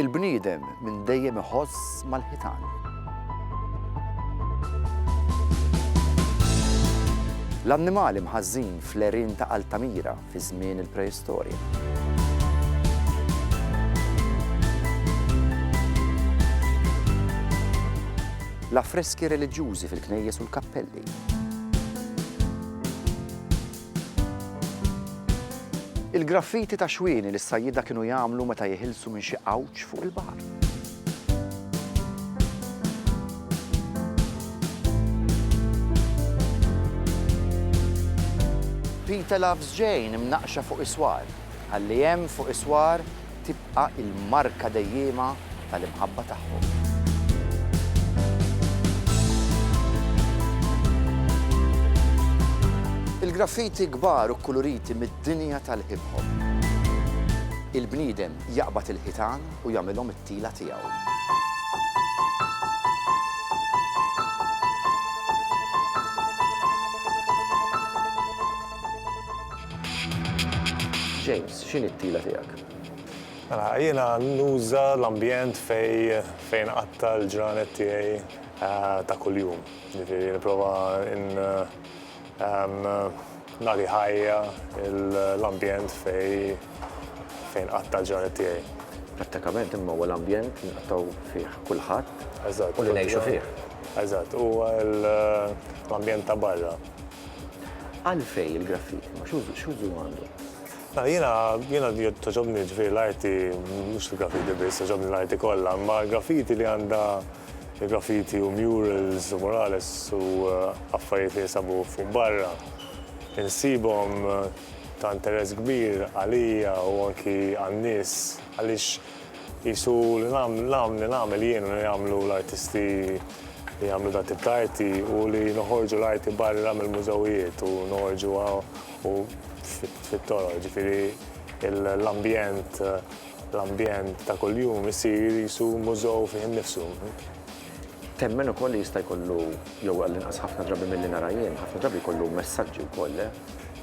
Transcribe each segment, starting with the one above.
Il-bniedem minn dejjem iħoss mal-ħitan. L-annimali mħażżin fl-għerien ta' Altamira fi żmien il-Preistorja. L-affreski reliġjużi fil-knejjes u l-kappelli. Il-graffiti ta' xwieni li s-sajjieda kienu jagħmlu meta jeħilsu minn xi għawġ fuq il-baħar. Peter Loves Jane imnaqqxa fuq iswar, ħalli hemm fuq iswar tibqa' l-marka dejjiema tal-imħabba tagħhom. Il-graffiti kbar u kkuluriti mid-dinja tal-hip hop. Il-bniedem jaqbad il-ħitan u jagħmilhom it-tila tiegħu. James. X'inhi t-tila tiegħek? Mela, jiena nuża l-ambjent fejn fejn inqatta' l-ġranet tiegħi ta' kuljum. Jiġifieri nipprova in nagħti ħajja l-ambjent fejn fejn inqatta' l-ġranet tiegħi. Prattikament imma huwa l-ambjent li nqattgħu fih kulħadd u li ngħixu fih. Eżatt, huwa l-ambjent ta' barra. Għalfejn il-graffiti? Ma x'użu għandu? Jiena jiena togħġobni ġifieri l-arti mhux il-graffiti biss, togħġobni l-arti kollha, imma l-graffiti li għandha il-graffiti u murals u murales u affarijiet li jinsabu fuq barra insibhom ta' interess kbir għalija u anki għan-nies għaliex qisu li nagħmel li nagħmel jien u li jagħmlu l-artisti li jagħmlu dat-tip ta' arti hu li noħorġu l-arti barra mill-mużewijiet u noħorġuha u fit-toroq, jiġifieri l-ambjent, l-ambjent ta' kuljum isir qisu mużew fih innifsu. Temmen ukoll li jista' jkollu, jew għall-inqas ħafna drabi milli nara jien, ħafna drabi jkollu messaġġi wkoll, le?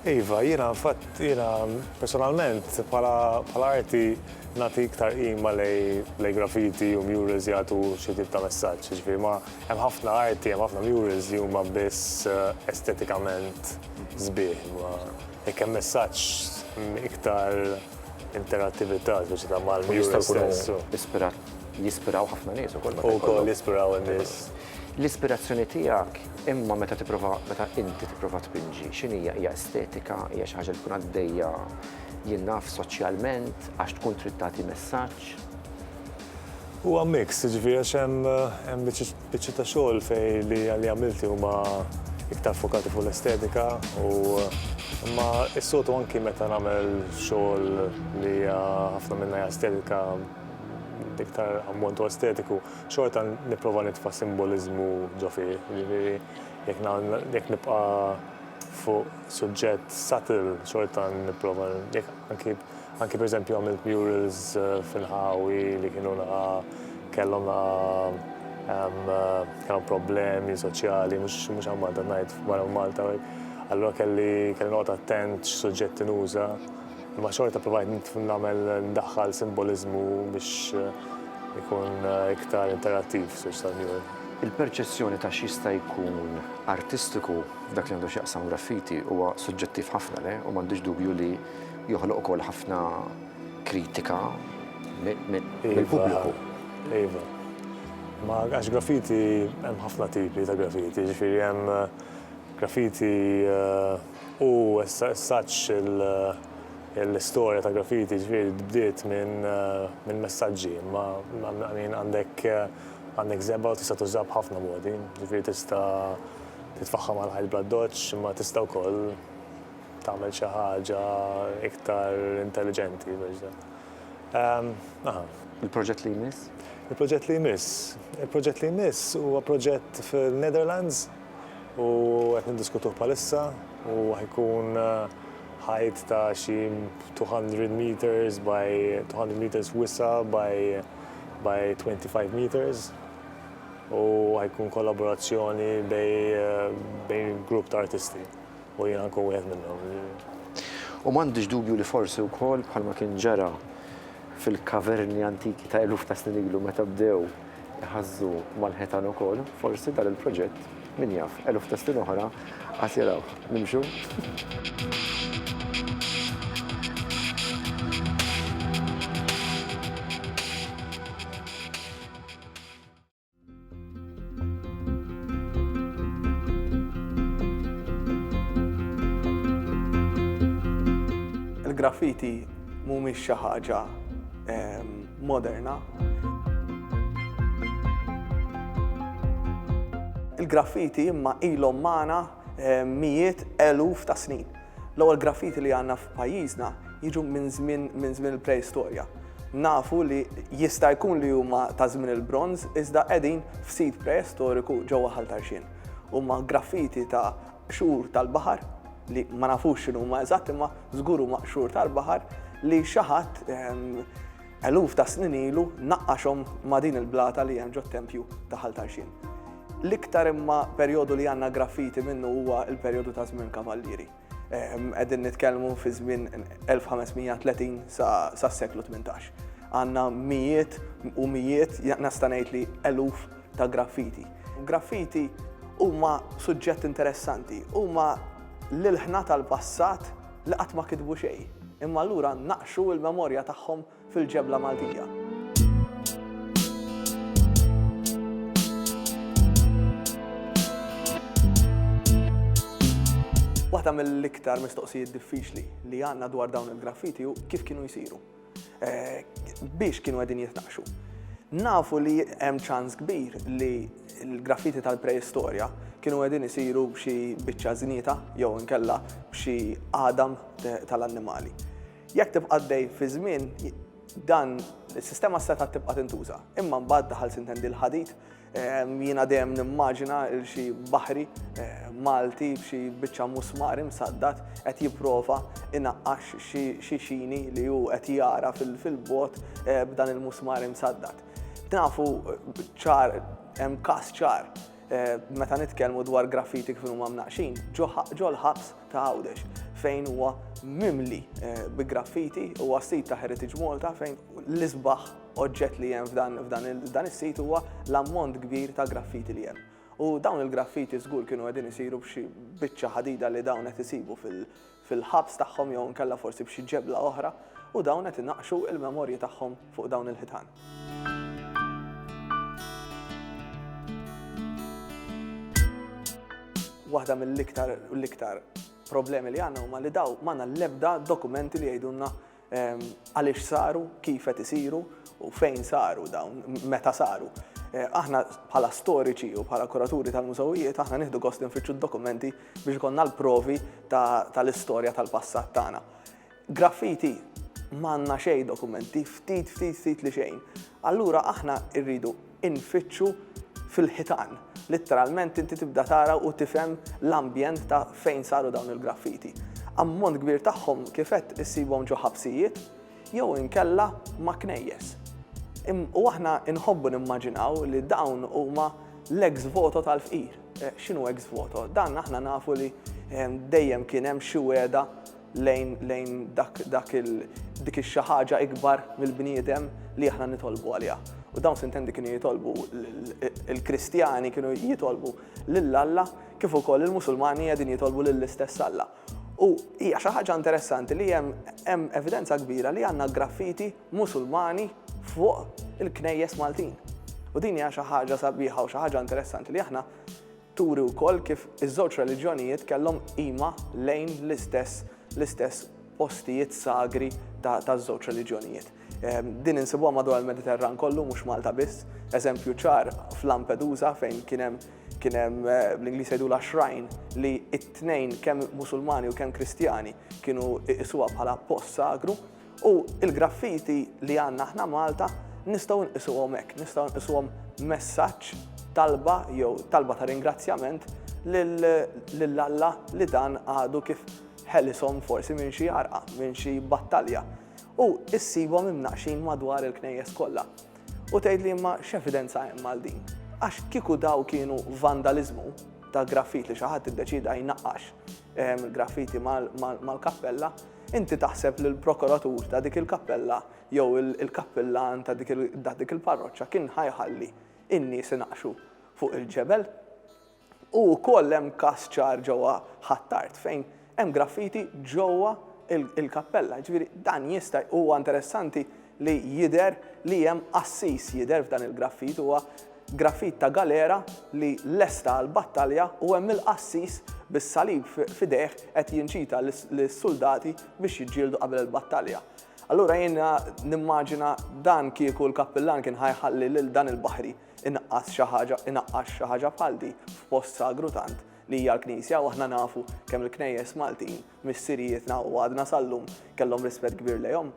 Iva, jiena fatt, jiena personalment bħala bħala arti nagħti iktar qima lejn graffiti u murals jagħtu xi tip ta' messaġġ, jiġifieri ma. Hemm ħafna arti, hemm ħafna murals li huma biss estetikament sbieħ, imma jekk hemm messaġġ iktar interattività speċjata mal-mural stess. Jispiraw ħafna nies ukoll. Ukoll jispiraw in-nies. L-ispirazzjoni tiegħek imma meta tipprova, meta inti tipprova tpinġi, x'inhija? Hija estetika, hija xi ħaġa li tkun għaddejja jien naf soċjalment għax tkun trid tagħti messaġġ? Huwa mix, jiġifieri għax hemm biċċiet ta' xogħol fejn li għamilti huma iktar ffokati fuq l-estetika u imma s-soltu anki meta nagħmel xogħol li hija ħafna minnha hija estetika iktar ammont huwa estetiku, xorta nipprova nitfa' simboliżmu ġo fih, jiġifieri jekk nibqa' fuq suġġett subtle xorta nipprova anki Anki pereżempju għamilt murals f'inħawi li kienu naqa' kellhom naqa' kellhom problemi soċjali, mhux mhux għal Malta ngħid barra minn Malta. Allura kelli kelli noqgħod attent x'suġġetti nuża, imma xorta provajt nagħmel ndaħħal simboliżmu biex ikun iktar interattiv fis-sors tal-mural. Il-perċezzjoni ta' x'jista' jkun artistiku f'dak li għandu x'jaqsam graffiti huwa suġġettiv ħafna, le? U m'għandix dubju li joħloq ukoll ħafna kritika mill-pubbliku. Iva. Ma għax graffiti hemm ħafna tipi ta' graffiti, ġifieri hemm graffiti eh, u saċ l-istorja ta' graffiti ġifieri bdiet minn eh, messaġġi, ma għandek eh, għandek zebba u tista' tuża b'ħafna modi, ġifieri tista' titfaħħam għal ħajt bla doċċ, ma tista' wkoll tagħmel xi ħaġa iktar intelliġenti biex dan. Ehm, aha. Il-proġett li jmiss? Il-proġett li jmiss. Il-proġett li jmiss huwa proġett fil-Netherlands u qed niddiskutuh bħalissa u ħajkun eh, ħajt ta' xi 200 meters by 200 meters wisa by by 25 meters u ħajkun kollaborazzjoni eh, bejn grupp ta' artisti. U jiena nkun wieħed minnhom. U m'għandix dubju li forsi wkoll bħalma kien ġara fil-kaverni antiki ta' eluf ta' snin ilu meta bdew iħażżu mal-ħitan ukoll, forsi dan il-proġett, min jaf, eluf ta' snin oħra għad jarawh. Nimxu? il-graffiti mhumiex xi ħaġa ehm, moderna. Il-graffiti imma ilhom magħna ehm, mijiet eluf ta' snin. L-ewwel graffiti li għandna f'pajjiżna jiġu minn żmien minn żmien il-Preistorja. Nafu li jista' jkun li huma ta' żmien il-Bronż iżda qegħdin f'sit preistoriku ġewwa Ħal Tarxien. Huma graffiti ta' qxur tal-baħar li ma nafux x'inhuma eżatt imma żgur huma qxur tal-baħar li xi ħadd eluf ta' snin ilu naqqaxhom ma' din il-blata li hemm ġot-tempju ta' Ħal Tarxien. L-iktar imma perjodu li għandna graffiti minnu huwa l-perjodu ta' żmien kavallieri. Qegħdin nitkellmu fi żmien 1530 sas-seklu 18. Għandna mijiet u mijiet, nista' ngħid li eluf ta' graffiti. Graffiti huma suġġett interessanti, huma l-ilħna tal-passat li qatt ma kitbu xejn, imma allura naqqxu l-memorja tagħhom fil-ġebla Maltija. Waħda mill-iktar mistoqsijiet diffiċli li għanna dwar dawn il-graffiti u kif kienu jisiru. Eh, biex kienu għedin jitnaqxu. Nafu li hemm ċans kbir li l-graffiti tal-preistorja kienu għedin jisiru b'xi biċċa znita jew inkella b'xi għadam tal-annimali. Jekk tibqa' għaddej fiż-żmien, dan is-sistema setgħet tibqa' tintuża. Imma mbagħad daħal sintendi l-ħadid, jiena dejjem nimmaġina il xi baħri Malti b'xi biċċa musmar imsaddat qed jipprova inaqqax xi xini li hu qed jara fil-bogħod b'dan il-musmar imsaddat. Nafu ċar, hemm każ ċar Meta nitkellmu dwar graffiti kif huma mnaqqxin, ġo l-ħabs ta' Għawdex fejn huwa mimli bi graffiti huwa sit ta' Heritage Malta fejn l-isbaħ oġġett li hemm f'dan is-sit huwa l-ammont kbir ta' graffiti li hemm. U dawn il-graffiti żgur kienu qegħdin isiru b'xi biċċa ħadida li dawn qed isibu fil-ħabs tagħhom jew inkella forsi b'xi ġebla oħra u dawn qed inaqqxu l-memorji tagħhom fuq dawn il-ħitan. waħda mill-iktar u l-iktar problemi li għandna huma li daw m'għandna l-ebda dokumenti li jgħidulna Għaliex saru, kif qed isiru u fejn saru dawn, meta saru. Aħna bħala storiċi u bħala kuraturi tal-mużewijiet aħna nieħdu gost li nfittxu d-dokumenti biex ikollna l-provi tal-istorja tal-passat tagħna. Graffiti m'għandna xejn dokumenti, ftit ftit ftit li xejn. Allura aħna rridu infittxu fil-ħitan. Litteralment inti tibda tara u tifhem l-ambjent ta' fejn saru dawn il-graffiti. Ammont kbir tagħhom kif għedt issibhom ġo ħabsijiet jew inkella ma' knejjes. U aħna nħobbu nimmaġinaw li dawn huma l-ex voto tal-fqir. X'inhu ex voto? Dan aħna nafu li dejjem kien hemm xi wegħda lejn lejn dak dak il dik ix-xi ħaġa ikbar mill-bniedem li aħna nitolbu għaliha. U dawn sintendi kienu jitolbu il-Kristjani kienu jitolbu lil Alla kif ukoll il-Musulmani qegħdin jitolbu lill-istess Alla. U hija xi ħaġa interessanti li hemm hemm evidenza kbira li għandna graffiti Musulmani fuq il-knejjes Maltin. U din hija xi ħaġa sabiħa u xi ħaġa interessanti li aħna turi wkoll kif iż-żewġ reliġjonijiet kellhom qima lejn l-istess l-istess postijiet sagri taż-żewġ reliġjonijiet. Ehm, din insibuha madwar il-Mediterran kollu mhux Malta biss, eżempju ċar f'Lampedusa fejn kien hemm kien hemm eh, bl-Ingliż jgħidu la shrine li t-tnejn kemm Musulmani u kemm Kristjani kienu iqisuha bħala post sagru U l-graffiti li għandna aħna Malta nistgħu nqisuhom hekk, nistgħu nqisuhom messaġġ, talba jew talba ta' ringrazzjament lil Alla li dan għadu kif ħelishom forsi minn xi għarqa, minn xi battalja. U ssibhom imnaqqxin madwar il-knejjes kollha. U tgħidli imma x'evidenza hemm għal din? Għax kieku daw kienu vandaliżmu ta' graffiti li xi ħadd iddeċieda jnaqqax graffiti mal-kappella, Inti taħseb li l-prokuratur ta' dik il-kappella jew il-kappillan ta' dik il-parroċċa kien ħa jħalli n-nies inaqqxu fuq il-ġebel? U wkoll hemm każ ċar ġewwa Ħ'Attard fejn hemm graffiti ġewwa il-kappella. Jiġifieri dan jista' huwa interessanti li jidher li hemm qassis jidher f'dan il-graffit huwa graffit ta' galera li lesta għall-battalja u hemm il-qassis bis-salib f'idejh qed jinċita lis-suldati biex jiġġieldu qabel il-battalja. Allura jiena nimmaġina dan kieku l-kappillan kien ħa jħalli lil dan il-baħri inaqqas xi ħaġa inaqqax xi ħaġa bħal di f'post sagru tant li hija l-knisja u aħna nafu kemm il-knejjes Maltin missirijietna u għadna sal-lum kellhom rispett kbir lejhom.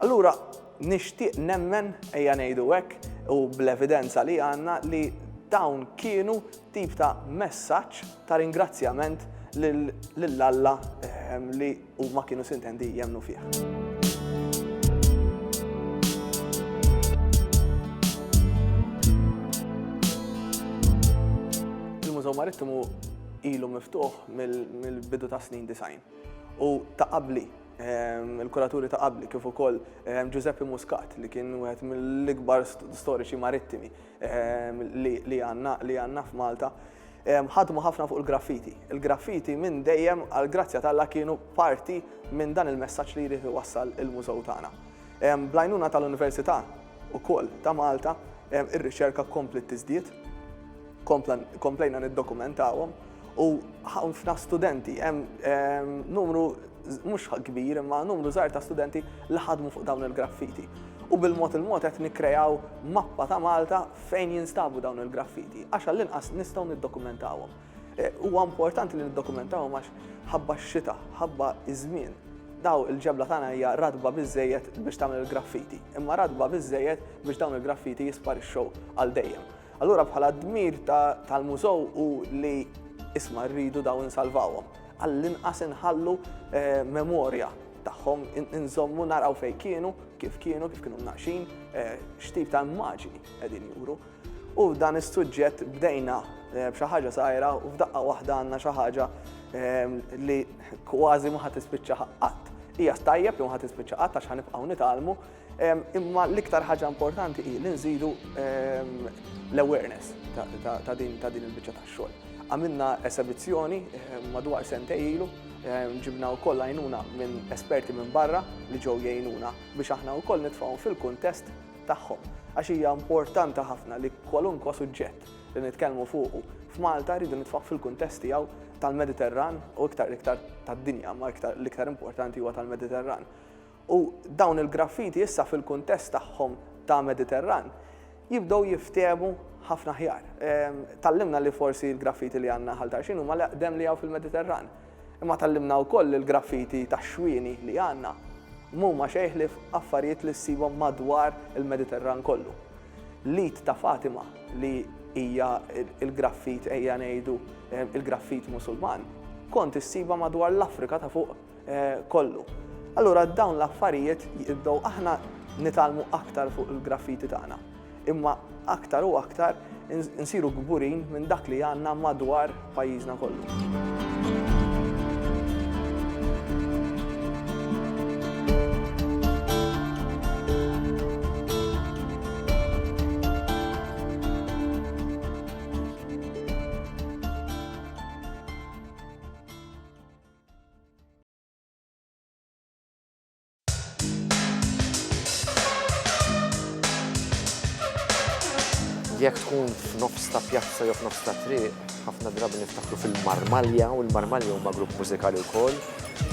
Allura nixtieq nemmen, ejja ngħidu hekk, u bl-evidenza li għandna li dawn kienu tip ta' messaġġ ta' ringrazzjament lil Alla ehm, li huma kienu sintendi jemnu fih. Il-Mużew Marittimu ilu miftuħ mill-bidu tas-snin disgħin u ta' qabli, il-kuraturi ta' qabli kif ukoll Ġużeppi Muscat li kien wieħed mill-ikbar storiċi marittimi li għandna f'Malta, ħadmu ħafna fuq il-graffiti. Il-graffiti minn dejjem għall-grazzja t'Alla kienu parti minn dan il-messaġġ li jrid iwassal il-mużew tagħna. Bl-għajnuna tal-Università, ukoll ta' Malta, ir-riċerka kompliet tiżdied, komplejna niddokumentawhom u ħafna studenti, hemm numru mhux kbir imma numru żgħir ta' studenti li ħadmu fuq dawn il-graffiti. U bil-mod il-mod qed nikkreaw mappa ta' Malta fejn jinstabu dawn il-graffiti, għax għall-inqas nistgħu niddokumentawhom. Huwa importanti li niddokumentawhom għax ħabba x-xita, ħabba iż-żmien, daw il-ġebla tagħna hija ratba biżżejjed biex tagħmel il-graffiti, imma ratba biżżejjed biex dawn il-graffiti jisparixxew għal dejjem. Allura bħala d-dmir tal-mużew hu li isma' rridu daw insalvawhom. Għall-inqas inħallu eh, memorja tagħhom inżommu naraw fejn kienu, kif kienu, kif kienu mnaqxin, eh, x'tip ta' immaġini qegħdin juru. U f'dan is-suġġett bdejna b'xi ħaġa żgħira u f'daqqa waħda għandna xi ħaġa li kważi ma ħa tispiċċa qatt. Hija stajjeb li ma ħa tispiċċa qatt għax ħanibqgħu nitgħallmu, imma l-iktar ħaġa importanti hi li nżidu l-awareness ta' din il-biċċa tax-xogħol. Għamilna esebizzjoni madwar sentej ilu, ġibna wkoll għajnuna minn esperti minn barra li ġew jgħinuna biex aħna wkoll nitfgħuhom fil-kuntest tagħhom, għax hija importanti ħafna li kwalunkwa suġġett li nitkellmu fuqu f'Malta rridu nitfgħuh fil-kuntest tiegħu tal-Mediterran u iktar l-iktar tad-dinja, ma iktar l-iktar importanti huwa tal-Mediterran. U dawn il-graffiti issa fil-kuntest tagħhom ta' Mediterran jibdew jiftehmu ħafna aħjar. Ehm, tallimna li forsi l-graffiti li għandna ħal Tarxin huma l-eqdem li hawn fil-Mediterran. Imma tgħallimna wkoll li l-graffiti tax-xwieni li għandna m'huma xejn ħlief affarijiet li ssibhom madwar il-Mediterran kollu. L-id ta' Fatima li hija l-graffit, ejja ngħidu, il-graffit Musulman, kont issibha madwar l-Afrika ta' fuq kollu. Allura dawn l-affarijiet jibdew aħna nitgħallmu aktar fuq il-graffiti tagħna. imma aktar u aktar insiru kburin minn dak li għandna madwar pajjiżna kollu. Jekk tkun f'nofs ta' pjazza jew f'nofs ta' triq, ħafna drabi niftakru fil-Marmalja u l-Marmalja huma grupp mużikali wkoll,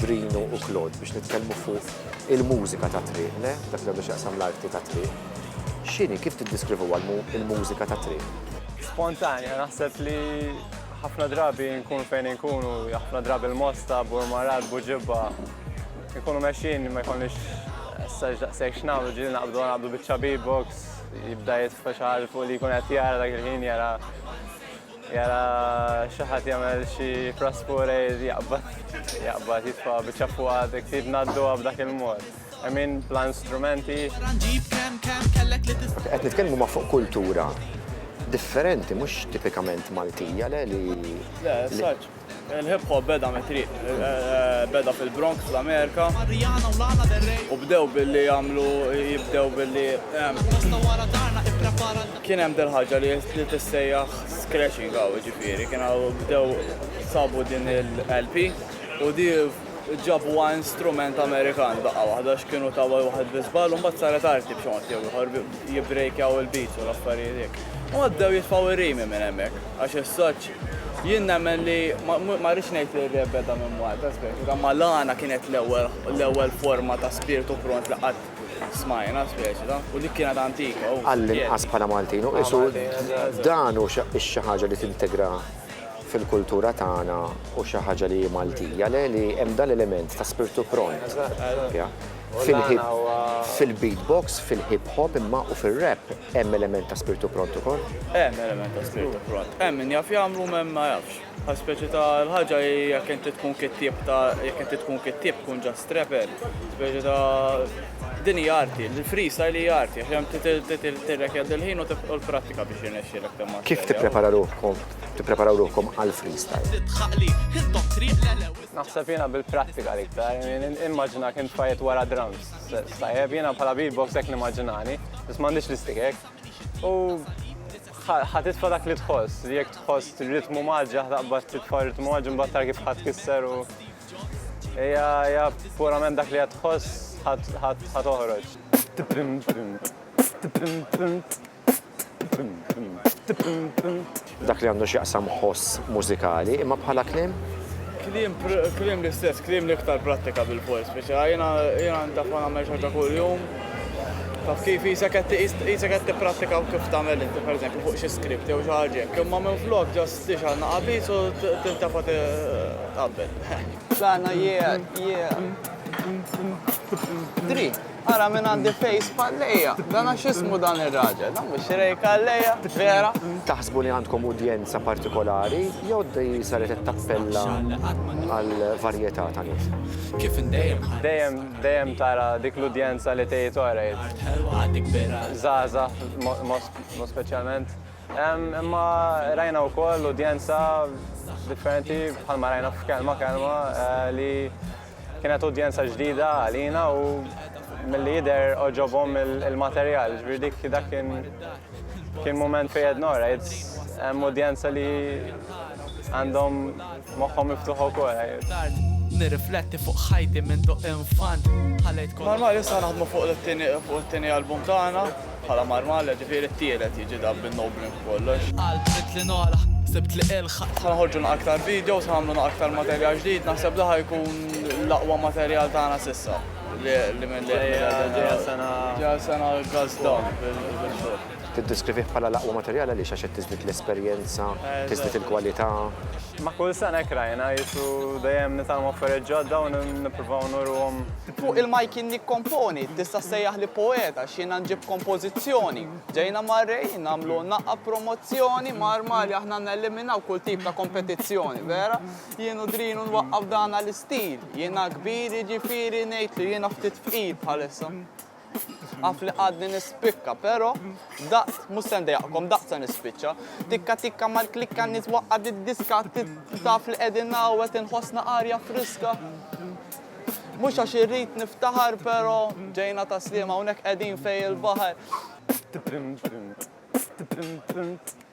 Drinu u Claude, biex nitkellmu fuq il-mużika ta' triq, le? Dak li għandu x'jaqsam l-arti ta' triq. X'inhi, kif tiddeskrivuha l-mużika ta' triq? Spontanja, naħseb li ħafna drabi nkunu fejn inkunu, ħafna drabi l-mosta, burmarat, buġibba. Ikunu mexjin ma jkollniex saġ daqshekk x'nagħmlu ġieli naqbdu naqbdu biċċa beatbox, jibda jitfa' xi ħaġa fuq li jkun qed jara dak il-ħin jara jara xi ħadd jagħmel xi praspure jaqbad jaqbad jitfa' biċċa fuq għadek trid ngħadduha b'dak il-mod. Emin plan strumenti. Qed nitkellmu ma' fuq kultura differenti, mhux tipikament Maltija, le li. Le, saċ. Il-hip hop beda mit-triq, beda fil-Bronx fl-Amerika. U bdew billi jagħmlu jibdew billi kien hemm dil ħaġa li tissejjaħ scratching hawn ġifieri, kien bdew sabu din il-LP u di Ġabu għan strument Amerikan daqqa waħda x'kienu ta' waħed biżbal u mbagħad saret arti b'xi mod jew ieħor jibbrejkjaw il-beats u l-affarijiet hekk. U għaddew jitfgħu r-rimi minn hemmhekk għax is-soċ jien nemmen li ma rridx ngħid li r-rap beda minn Malta speċi ta' Malana kienet l-ewwel l-ewwel forma ta' spirtu pront li qatt smajna speċi ta' u dik kienet antika u. Għall-inqas bħala Maltin u qisu dan hu xi ħaġa li tintegra fil-kultura tagħna u xi ħaġa li hi Maltija le li hemm dan l-element ta' spirtu pront fil-hip fil-beat box, fil-hip hop imma u fir-rap hemm element ta' spirtu pront ukoll? Hemm element ta' spirtu pront. Hemm min jaf jagħmlu m'hemm ma jafx. Bħal speċi ta' l-ħaġa hi jekk inti tkun kittieb ta' jekk inti tkun kittieb tkun just rapper. Speċi ta' din hi arti, il-freestyle hi arti għax hemm tirrekjaddi l-ħin u l-prattika biex jirnexxielek timmasterja. Kif tipprepara ruħkom tippreparaw ruħkom għal freestyle. Naħseb jiena bil-prattika li iktar, immaġina kien fajet wara drums. Sajjeb jiena bħala beatbox hekk nimmaġinani, biss m'għandix l-istikek. U ħatitfa dak li tħoss, li jekk tħoss ritmu maġġa, ħtaqbad titfa ritmu maġġa, mbagħad tar kif ħadd kisser u. Ija purament dak li ħatħoss ħat toħroġ. Dak li għandu x'jaqsam ħoss mużikali, imma bħala kliem? Kliem, kliem l-istess, kliem li iktar prattika bil-post, speċi jiena jiena ntaf ma nagħmel xorta kuljum. Taf kif jisek qed jisek qed tipprattika u kif tagħmel inti pereżempju fuq xi skript jew xi ħaġa hekk, imma minn flok ġast tixgħal naqabis u tintafa tqabbel. Sana jie jie. Dri. Ara minn għandi face palleja, dan għax ismu dan ir-raġel, dan mhux rej kalleja, vera. Taħsbu li għandkom udjenza partikolari jew di saret qed tappella għal varjetà ta' nies? Dejjem, dejjem tara dik l-udjenza li tgħid orejt. Żgħażagħ mod speċjalment. Imma rajna wkoll udjenza differenti bħalma rajna f'kelma kelma li Kienet udjenza ġdida għalina u milli jidher oġobhom il-materjal, ġifieri dik dak kien kien mument fejn qed nora, hemm udjenza li għandhom moħħhom miftuħ ukoll. Nirrifletti fuq ħajti minn tok infant. Mal-Malju sa naħdmu fuq it-tieni album tagħna. Bħala marmalla ġifieri t-tielet jiġi dan bin-no blink b'kollox. Qalb ridt li nogħla, sibt li ilħaq. Ħa noħorġu na aktar videos, ħa nagħmlu na aktar materjal ġdid, naħseb da ħa jkun l-aqwa materjal tagħna s'issa. Li minn li ġejja sena. Ġejja sena guns down bil-xogħol. Tiddiskrivih bħala l-aqwa materjal għaliex għax qed tiżdied l-esperjenza, tiżdied il-kwalità. Ma' kull sena hekk rajna, qisu dejjem nitgħallmu affarijiet ġodda u nippruvaw nuruhom. Fuq il-mike jien nikkomponi, tista' ssejjaħli poeta għax jiena nġib kompożizzjoni. Ġejna mar-Ray nagħmlu naqqa promozzjoni, mar Mali aħna neliminaw kull tip ta' kompetizzjoni, vera? Jien u Drinu nwaqqaf dana l-istil, jiena kbir jiġifieri ngħidlu jiena ftit fqir bħalissa. Af li għadni nispikka, pero daqt mhux se ndejaqkom daqt se nispiċċa. Tikka tikka mal-klikka nitwaqqa did-diska taf li qegħdin hawnhekk inħossna arja friska. Mhux għax irrid niftaħar, pero ġejna ta' sliema hawnhekk qegħdin fej il-baħar.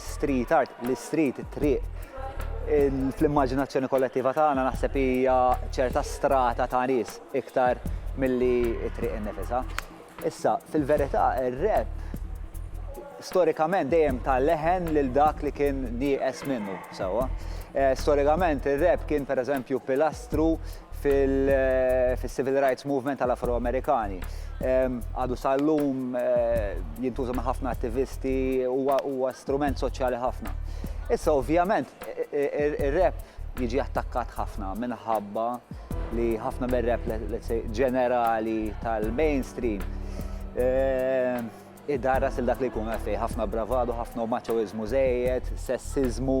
Street art, l-istriet, it-triq, fl-immaġinazzjoni kollettiva tagħna naħseb hija ċerta strata ta' nies iktar milli t-triq innifisha. Issa, fil-verità, ir-rap storikament dejjem ta leħen lil dak li kien nieqes minnu sewwa. Storikament ir-rap kien pereżempju pilastru fil-Civil Rights Movement tal-Afro-Amerikani. Għadu sal-lum jintuża minn ħafna attivisti huwa strument soċjali ħafna. Issa ovvjament ir-rap jiġi attakkat ħafna minħabba li ħafna mir-rap ġenerali tal-mainstream idarras il dak li jkun għaddej ħafna bravadu, ħafna maċoiżmu żejjed, sessizmu,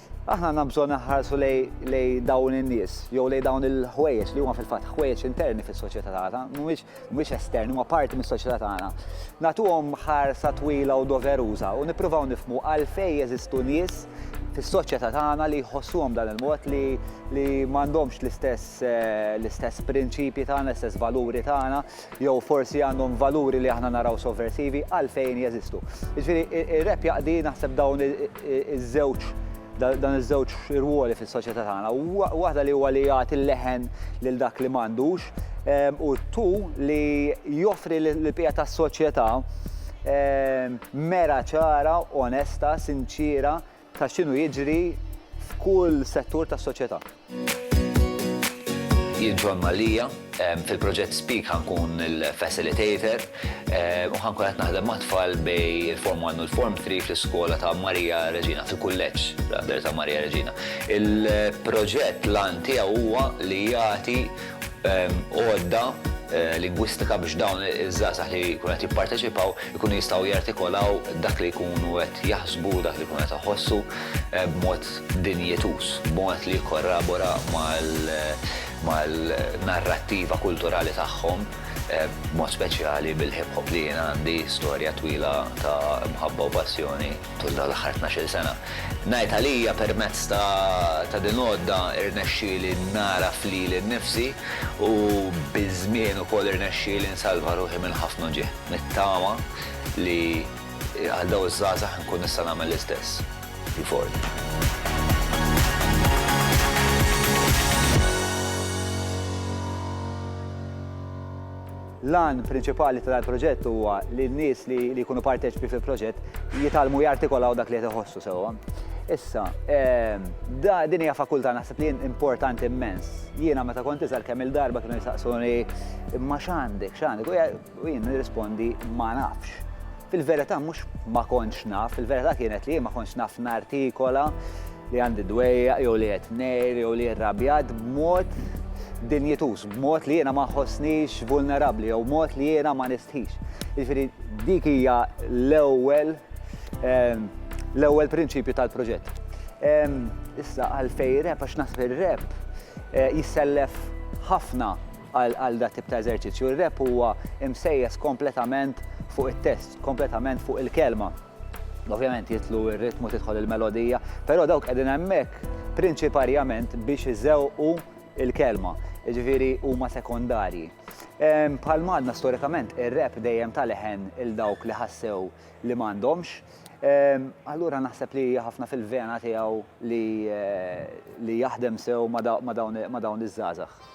Aħna għandna bżonn inħarsu lejn dawn in-nies, jew lejn dawn il-ħwejjeġ li huma fil-fatt ħwejjeġ interni fis-soċjetà tagħna, mhumiex esterni, huma parti mis-soċjetà tagħna. Nagħtuhom ħarsa twila u doveruża u nippruvaw nifhmu għalfejn jeżistu nies fis-soċjetà tagħna li jħossuhom b'dan il-mod li m'għandhomx l-istess prinċipji tagħna, l-istess valuri tagħna. jew forsi għandhom valuri li aħna naraw sovversivi għalfejn jeżistu. Jiġifieri ir-rap jaqdi naħseb dawn iż-żewġ dan iż-żewġ rwoli fis-soċjetà tagħna. Waħda li huwa li jagħti l-leħen lil dak li m'għandux ehm, u tu li joffri l-bqija tas-soċjetà ehm, mera ċara, onesta, sinċiera ta' x'inhu jiġri f'kull settur tas-soċjetà. Jien Ġwann Mallia, fil-proġett Speak ħa nkun il-facilitator u ħa nkun qed naħdem mat-tfal bejn il-Form 1 u l-Form 3 fl-iskola ta' Maria Reġina, fil-kulleġġ ta' Maria Reġina. Il-proġett l-għan tiegħu huwa li jagħti għodda lingwistika biex dawn iż-żgħażagħ li jkunu qed jipparteċipaw ikunu jistgħu jartikolaw dak li jkunu qed jaħsbu, dak li jkunu qed iħossu b'mod dinjituż, b'mod li jikkorrabora mal-narrattiva kulturali tagħhom, b'mod speċjali bil-hip hop li jien għandi storja twila ta' mħabba u passjoni. tul dawn l-aħħar tnax-il sena. Ngħid għalija permezz ta' din l-għodda rnexxieli nagħraf lili nnifsi u biż-żmien ukoll irnexxieli nsalva ruħi minn ħafna uġigħ. Nittama li għal dawn iż-żgħażagħ inkun nista' nagħmel l-istess il fort. L-għan prinċipali ta' dan il-proġett huwa li n-nies li jkunu parteċipi fil-proġett jitgħallmu jartikolaw dak li qed iħossu sewwa. Issa, ehm, din hija fakultà naħseb li importanti immens. Jiena meta kont iżgħar kemm il-darba kienu jistaqsuni imma x'għandek, x'għandek? U jien nirrispondi ma nafx. Fil-verità mhux ma kontx naf, il-verità kienet li jien ma kontx naf nartikola li għandi dwejjaq jew li qed ngħir jew li rrabjat b'mod dinjituż, b'mod li jiena ma nħossnix vulnerabbli jew mod li jiena ma nistħix. Jiġifieri dik hija l-ewwel ehm, l-ewwel prinċipju tal-proġett. Ehm, issa għalfejn rap għax naħseb ir-rap eh, jissellef ħafna Għal dat tip ta' eżerċizzju, r-rap huwa msejjes kompletament fuq it-test, kompletament fuq il-kelma. Ovvjament jidħlu r-ritmu, tidħol il-melodija, però dawk qegħdin hemmhekk prinċiparjament biex iżewqu l-kelma, jiġifieri huma sekondarji. Bħal m'għadna storikament ir-rap dejjem ta leħen 'il dawk li ħassew li m'għandhomx. Allura naħseb li hija ħafna fil-vena tiegħu li jaħdem sew ma' dawn iż-żgħażagħ.